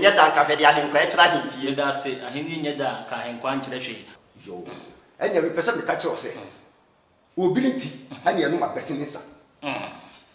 nyɛ da nka hwɛ de ahenkwa ɛkyerɛ ahenfie. Meda ase, ahenni nyɛ da nka ahenkwa nkyerɛ hwee. Yoo, ɛnea mepɛ sɛ meka kyerɛ wo sɛ, obi ne ti ɛnea ɛnom abɛsen ne nsa.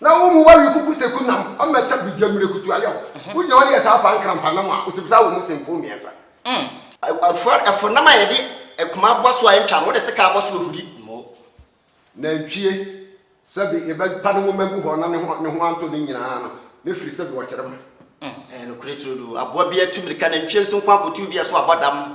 Na wo mu wawi kuku seku nam ɔmɛ sɛ bi gya mire kutu ayɛ wo. Wo gyina hɔ yɛ saa paa nkrampa nam a osim saa wɔ mu sen fon mmiɛnsa. Ɛfo nam a yɛde ɛkuma bɔ so a ɛntwa mo de sekaa bɔ so ohuri. Nantwie sɛ bi yɛbɛ pa ne nwoma gu hɔ na ne ho antɔ ne nyinaa no ne firi sɛ bi ɔkyere ma. Ɛyɛ nokorɛ turodoo. Aboa biara tu mirika, nantwie nso nko ara kɔtuu bi a so abɔ dam.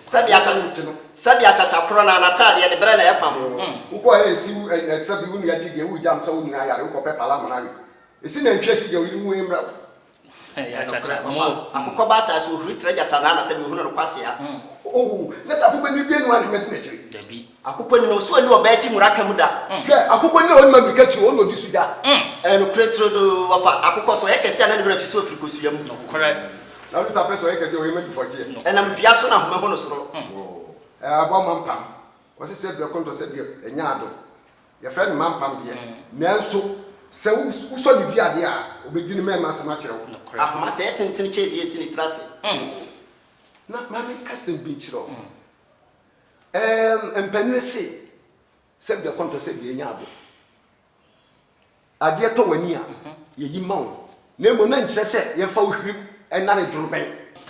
Sɛbea kyakya ti no. Sɛbea kyakya koro na n'ataadeɛ de berɛ na ɛpam wo. Wokɔ a ɛnsi wo ɛsɛ bi, wo nua akyi deɛ woregya amsa wo nyinaa yare, wokɔ pɛ pala amona we. Ɛsi nantwie akyi deɛ ɔyere wu ɛmmra wo. Ɛyɛ nokorɛ, ɔfa akokɔ ba ataase, ɔhuri trɛ gyata naana sɛdeɛ ɔhunu no kwasea. Oho, na sɛ akokɔ ani due no a na mɛdi n'akyire. Dabi. Akokɔ ni na ɔsi ɔni ɔbaa akyi mura ka mu da. Hwɛ, akokɔ ni a ɔnima mmirika tuo, ɔna ɔdi su da. Ɛyɛ nokorɛ turodoo, wɔfa akokɔ sɛ ɔyɛ kɛseɛ a na ne werɛ afi so afiri kosua mu. Nokorɛ. Na ɔno nso apɛ sɛ ɔyɛ kɛseɛ a ɔyɛ ma du fɔkyeɛ. Ɛnam dua so na ahoma hu no soro. Ɛɛ, aboa mampam, wɔse sɛ berɛ kɔntɔ sɛ deɛ ɛnya adom. Yɛfrɛ no mampam deɛ, nanso sɛ wosɔ ne dua adeɛ a, ɔbɛdi ne mɛɛma asɛm akyerɛ wo. Nokorɛ. Ahoma sɛ ɛtentene kyɛ wie si ne tiri ase. Na ma menka asɛm bi nkyerɛ wo. Eeemm mpanyini se sɛ bia kɔntɔ sɛ bia nya abo adeɛ tɔ wani a yɛyi ma wo na mmom na nkyerɛ sɛ yɛmfa wo hwirim ɛnane dorobɛn.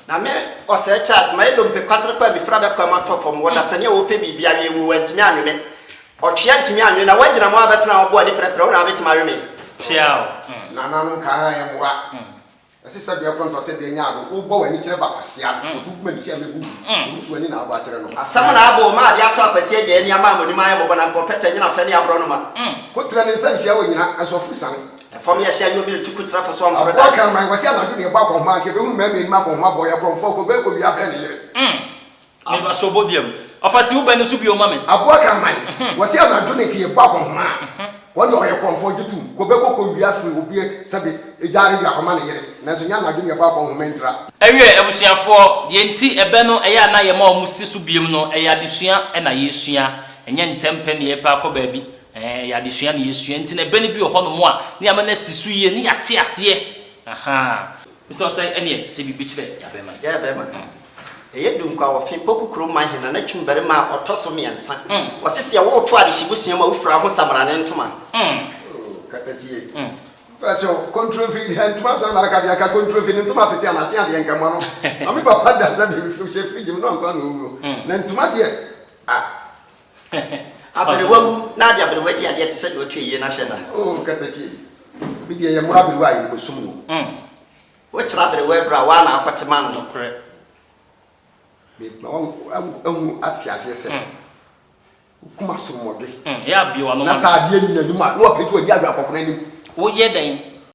Na me Ɔsɛɛ Charles, mayɛ dompe kwaterekɔ a mefiri abɛkwaa mu atɔ fam wɔ dasani a wɔpɛ biribi awe mu, wantumi anwe me. Ɔtwea ntumi anwe, na woagyina mu ara abɛtena hɔ bo ani pɛrɛpɛrɛ, wo na wobɛtumi awe me? Kyeaw! Nananom kaa yɛn mmoa Ɛse sɛ bia pɔnto sɛ bia nya ado wo bɔ w'ani kyerɛ ba kwasia no wo so kuma ne hyia mɛbu gu wo nso w'ani na abɔ akyerɛ no. Asɛm na abɔ o ma ade atɔ akwasia agya ani ama amonim ayɛ mɔbɔ na nka ɔpɛtɛ nyina fɛ ne abrɔ no ma. Ko tra ne nsa nhyia wɔ nyina nso afuru sane. Ɛfam yɛ hyɛ anwuo mire tu ko tra fa so amforo da. Aboa kraman kwasia anadwo ne ɛbɔ akɔnhoma anka ɛbɛhunu mɛmɛ anim akɔnhoma bɔ yɛ korɔmfoɔ kɔ bɛɛ kɔ wia brɛ ne yere. Me ba so bɔ biam. Ɔfa si wo bɛ no so bio ma me. Aboa kraman, wɔse anadwo ne nkeɛ bɔ akɔnhoma a, wɔn deɛ ɔyɛ korɔmfoɔ gye tom. Kɔ bɛkɔ kɔ wia firi obi sɛbe gya rewe akɔma ne yere, nanso nyɛ anadwo ne ɛbɔ akɔnhoma ntira. Ɛwiɛ abusuafoɔ, deɛ nti ɛbɛ no ɛyɛ a na yɛma wɔn si so biam no, ɛyɛ adesua na yɛresua, ɛnyɛ ntɛm pɛ ne yɛrepɛ akɔ baabi, ɛɛ ɛyɛ adesua na yɛresua, nti na ɛbɛ no bi wɔ hɔnom a, ne yɛama no asi so yie, ne yɛate aseɛ, ahaa. Mr Osei ɛneɛ sɛ biribi kyerɛ Gyabɛma. Gyabɛma, Ɛyɛ Dunkwa wɔ fi Poku kurom Mahina na Twum barima a ɔtɔ so mmiɛnsa. Wɔse seɛ wo reto adehye busua mu a wofira wo ho Samrane ntoma. Oh Katakyie, mpakyɛ wo Kontromfi deɛ ntoma asɛm na aka deɛ anka Kontromfi ne ntoma tete a na atea deɛ nka mono ma me papa da sɛ biribi hyɛ fridge mu na ɔmpa no owuo na ntoma deɛ ah. Aberewa wu na ade aberewa adi adeɛ te sɛ deɛ ɔtu ayie no ahyɛ nna. Oh Katakye, me deɛ yɛ mmoro aberewa a yɛnkɔsum wo. Mm. Wokyerɛ aberewa aduro a, wo ara na akɔte ma no. Nokorɛ. Me ma wo ahu ate aseɛ sɛ. Mm. Wo kuma so mmɔdwe. Mm, yɛ abue w'ano ma me. Na sɛ adeɛ nyi n'anim a, na wapagya w'ani ahwɛ akɔkora anim. Woyɛ dɛn?